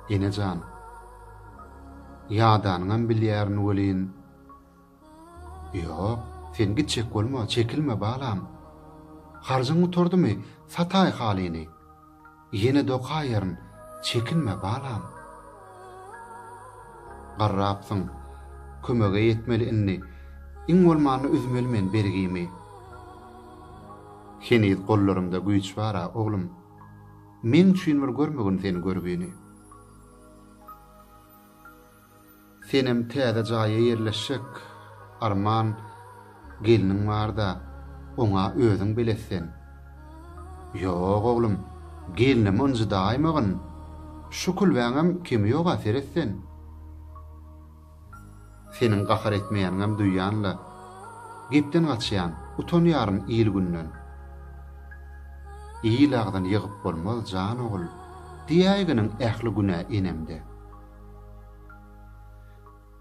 Ene jan. Ýadanyňam bilýärin welin. Ýok, sen gitjek bolma, çekilme, balam. Harjyň gutardymy, sataý halyny. Ýene dokaýaryn, çekinme, balam. Garrapsyň, kömege ýetmeli indi. Iň bolmanda üzmeli men bergimi. Heniz gollarymda güýç bar-a, oglum. Meň üçin bir görmegin sen görgini. Senem täze jaýa ýerleşjek, arman, gelniň bar-da, oňa özüň belet sen. Ýok, oglum, gelnimi ynjydaýmagyn. Şu külbäňem kemi ýog-a, seret sen. Seniň gahar etmeýäniňem duýýan-la. Gepden gaçýan, utanýaryn il-günden. Il agzyny ýygyp bolmaz, jan ogul, diýäýginiň ähli günä enemde.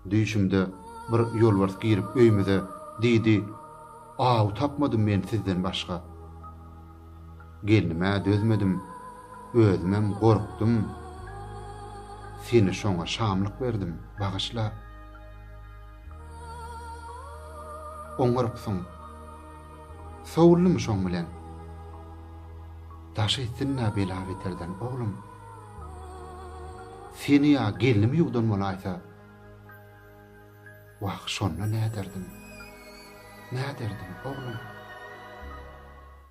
Düýşümde bir ýolbars girip öýmüze, diýdi, Aw tapmadym men sizden başga. Gelnime dözmedim, özümem gorkdum. Seni şoňa şamlyk berdim, bagyşla. Oňarypsyň. Sowuldymy şoň bilen? Daş etsin-dä bela-beterden, oglum. Seni ýa gelnim ýuwdan bolaýsa? Wah, şonda näderdim? Näderdim, oglum?